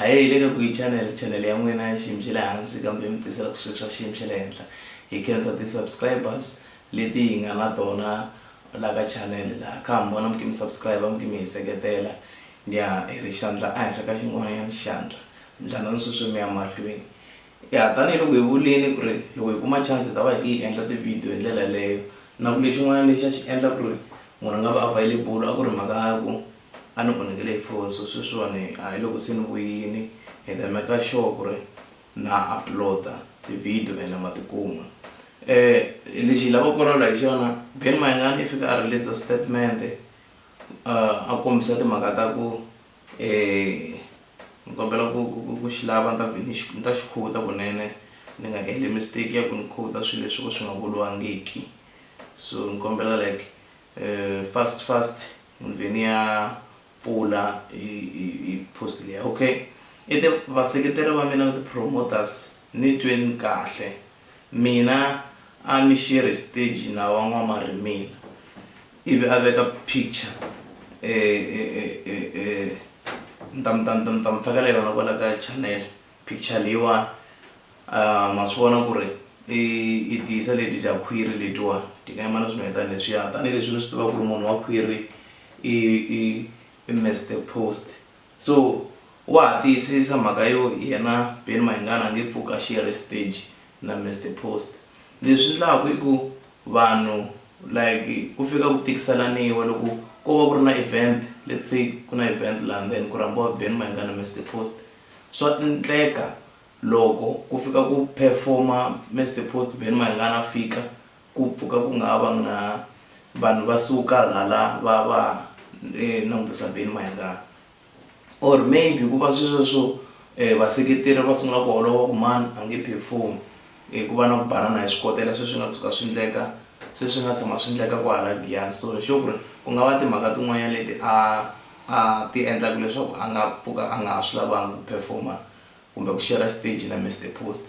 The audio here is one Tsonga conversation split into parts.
hayi le ka ku yi channel channel ya n'wina ya xiyimo xa le hansi kambe mi tisela swilo swa xiyimo xa le henhla hi khensa ti-subscribers leti hi nga na tona la ka channel laha kha mi vona mi kimi subscribe mi kimi hi seketela ni ya hi ri xandla ehenhla ka xin'wanyana xandla ndlana ni sweswi mi ya mahlweni Ya, tanihiloko hi vulile ku ri loko hi kuma chance hi ta va hi khe hi endla ti-video hi ndlela yeleyo. Na ku lexin'wana lexi a xi endla ku ri munhu a nga vi available a ku ri mhaka ya ku a ni onhekele hi foni so sweswiwani a hi loko se ni vuyile hi ta maker sure ku ri na upload-a ti-video ene ma tikuma. Lexi hi lavaka ku vulavula hi xona Benny Mayengani i fike a release-a statement-e a kombisa timhaka ta ku. ni kombela ku ku ku ku xi lava ni ta ni xi ni ta xi khuta kunene ni nga endli mistake ya ku ni khuta swi leswi swo ka swi nga vuriwangiki so ni kombela like fast fast ni vhe ni ya pfula hi hi hi post liya okay i ti vaseketeri va mina na ti-promoters ni tweni kahle mina a ni share stage na van'wamarimila. Ivi a veka picture e e e e e ni ta mi ta ni ta mi fakela yona kwala ka channel picture leyiwani um ma swi vona ku ri i i tiyisa leti dya khwiri letiwani ti nga yima na swinene tani leswiya tanihileswi ni swi tiva ku ri munhu wa khwiri i i i mister post So wa ha tiyisisa mhaka yo yena Benny Mayengani a nge pfuki a share stage na Mister Post. Leswi endlaku i ku vanhu like ku fika ku tikiselaniwa loko ko va ku ri na event let's say ku na event laha then ku rhambiwa Benny Mayengani na Mister Post swa endleka loko ku fika ku perform-a Mister Post Benny Mayengani a fika. Ku pfuka ku nga va na vanhu va suka hala va va langutisa Benny Mayengani or maybe hikuva swesweswo vaseketeri va sungula ku holova ku mani a nge perform-i hi ku va na ku banana hi swikotela sweswi nga tshuka swi endleka se swi nga tshama swi endleka kwala Giyani so hi sure ku ri ku nga va timhaka tin'wanyana leti a a ti endlaka leswaku a nga pfuka a nga ha swi lavanga ku perform-a kumbe ku share-ra xiteji na Mister Post.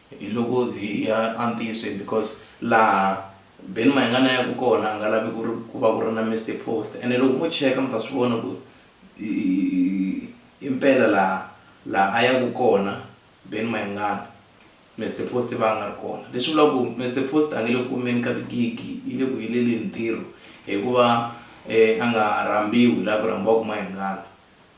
Hi loko hi ya antisweni because laha Ben Mayengani a yaka kona a nga lavi ku ri ku va ku ri na Mister Post ene loko mo cheka mi ta swi vona ku himpela laha laha a yaka kona Ben Mayengani Mister Post va nga ri kona leswi vulaka ku Mister Post a nge le ku kumeni ka ti-gig-i yi le ku heleleni ntirho hikuva a nga rhambiwi laha ku rhambiwaka Mayengani.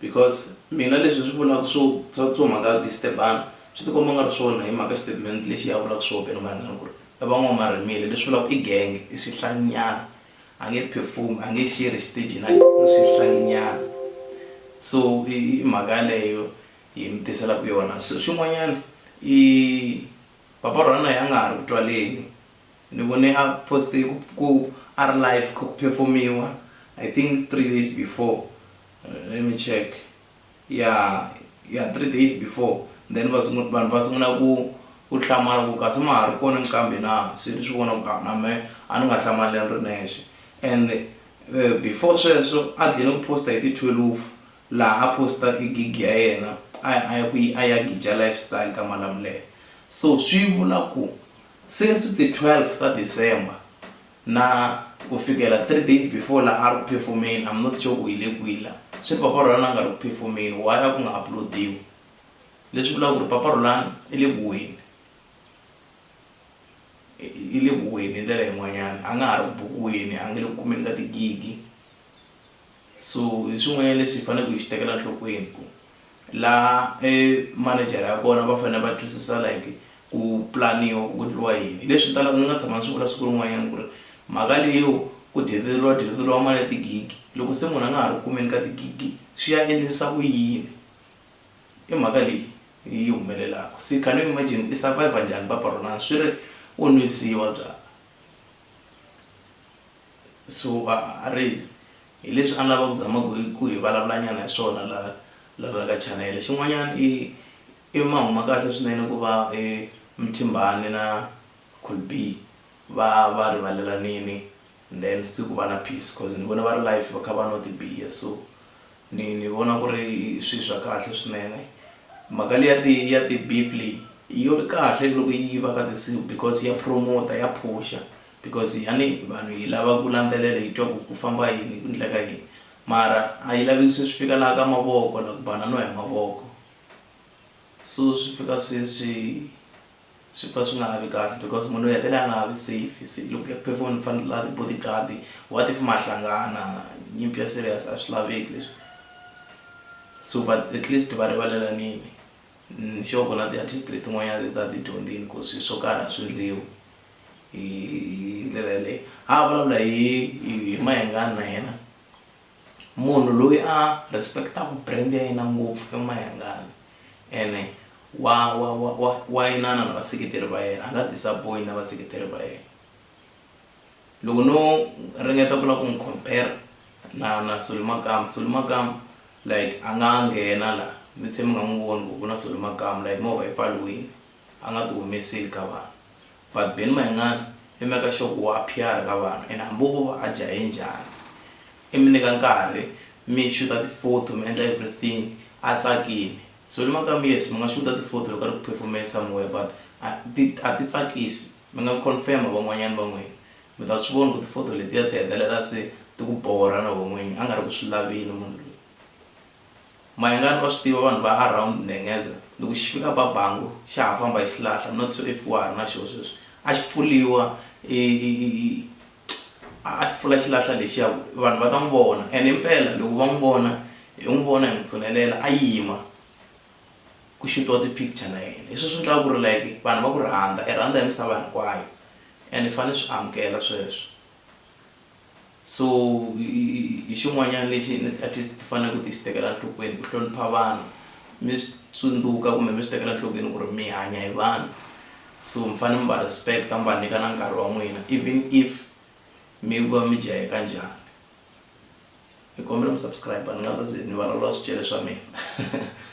because mina leswi swi vulaka swo swa swo mhaka ya disturb-ana swi tikomba u nga ri swona hi mhaka statement lexi ya vulaka swo beni vanghana ku ri i van'wamarimile leswi vulaka i genge i swihlanginyana a nge perform a nge xerhi xitejini a i swihlanginyana so i mhaka yaleyo hi mi tiselaka yona so xin'wanyana i papa Rhona a nga ha ri ku twaleni. Ni vone a poste ku ku a ri live kha ku performiwa I think three days before let me check ya ya three days before then va sungula vanhu va sungula ku ku hlamala ku kasi ma ha ri kona nqambi na se ni swi vona ku a na me a ni nga hlamali ni ri nexe and before sweswo a dlhine ku posta hi ti thwelufu laha a posta i gig ya yena a ya a ya ku yi a ya gija lifestyle ka Malamulele so swi vula ku Since ti 12 ta December na ku fikela 3 days before la ari ku perform-eni I'm not sure ku yi le kwihi la swi ri Papa Rhulani a nga ri ku perform-eni why a ku nga upload-iwi leswi vulaka ku ri Papa Rhulani i le ku weni i le ku weni hi ndlela yin'wanyana a nga ha ri ku bukiweni a nge le ku kumeni ka ti gig-i. So hi swin'wanyana leswi hi faneleke hi swi tekela nhlokweni ku laha e manejara ya kona va fanele va twisisa like ku pulaniwa ku endliwa yini hi leswi talaka ni nga tshama ni swi vula siku rin'wanyana ku ri mhaka leyo ku dyeriwa dyeriwa mali ya tigigi loko se munhu a nga ha ri kumeni ka tigigi swi ya endlisa ku yini i mhaka leyi yi humelelaka se can you imagine i survivor njhani papa rona swi ri u nwisiwa byala. Suarez hi leswi a ni lava ku zama ku ku hi vulavulanyana hi swona la la la ka chanele xin'wanyana i i ma huma kahle swinene ku va i Mthimbani na Colby va va rivalelanini and then swi ku va na peace coz ni vona va ri life va kha va nwa tibiya so ni ni vona ku ri swi swa kahle swinene mhaka leyi ya ti ya ti-beef leyi yo kahle loko yi va ka tinsimu because ya promoter ya phusha. Because yani vanhu hi lava ku landzelela hi twa ku ku famba yini ku ndleka yini mara a yi lavi swi fika laha ka mavoko la ku banana hi mavoko so swi fika swi swi swi pfa swi nga ha vi kahle because munhu u hetelela a nga ha vi safe se loko ya perform ni fanele la body guard what if ma hlangana nyimpi ya serious a swi laveki leswi so but at least va rivalelanini ni sure ku na ti-artist letin'wanyana ti ta ti dyondzini ku swi swo karhi a swi ndliwi. hi hi ndlela yaleyo a a vulavula hi hi mayengani na yena munhu loyi a respect-aku brand ya yena ngopfu i mayengani ene wa wa wa wa wa inana na vaseketeri va yena a nga disappoint na vaseketeri va yena loko no ringeta ku lava ku n'wi compare na na soli makamu soli makamu like a nga nghena la mi tshe mi nga n'wi voni ku ku na soli makamu like movha yi pfaliwini a nga ti humeseli ka vanhu but Ben Mayengani i make sure ku wa PR ka vanhu and hambi vo va a jahe njhani i mi nyika nkarhi mi xuta ti photo mi endla everything a tsakile so ni mhaka yes mi nga xuta ti photo loko a ri ku perform-eni somewhere but a ti a ti tsakisi mi nga confirm van'wanyana va n'wina mi ta swi vona ku ti photo letiya ti hetelela se ti ku borha na we n'winyi a nga ri ku swi laveni munhu loyi. Mayengani wa swi tiva vanhu va around Nengeza loko xi fika ba bango xa ha famba hi xilahla not so if wa ha ri na xoho sweswi a xi pfuriwa a xi pfula xilahla lexiya ku vanhu va ta n'wi vona and himpela loko va n'wi vona hi n'wi vona hi n'wi tshunelela a yima ku xutiwa ti-picture na yena hi sweswo swi endlaka ku ri like vanhu va ku rhandza i rhandza hi misava hinkwayo and i fanele swi amukela sweswo. So hi xin'wanyana lexi at least ti fanele ku ti xi tekela nhlokweni ku hlonipha vanhu mi swi tsundzuka kumbe mi swi tekela nhlokweni ku ri mi hanya hi vanhu so mi fanele mi va respect mi va nyika na nkarhi wa n'wina even if mi va mi jaheka njhani ni kombela mi subscribe ni nga ta ze ni vulavula swicele swa mina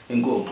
inkomu.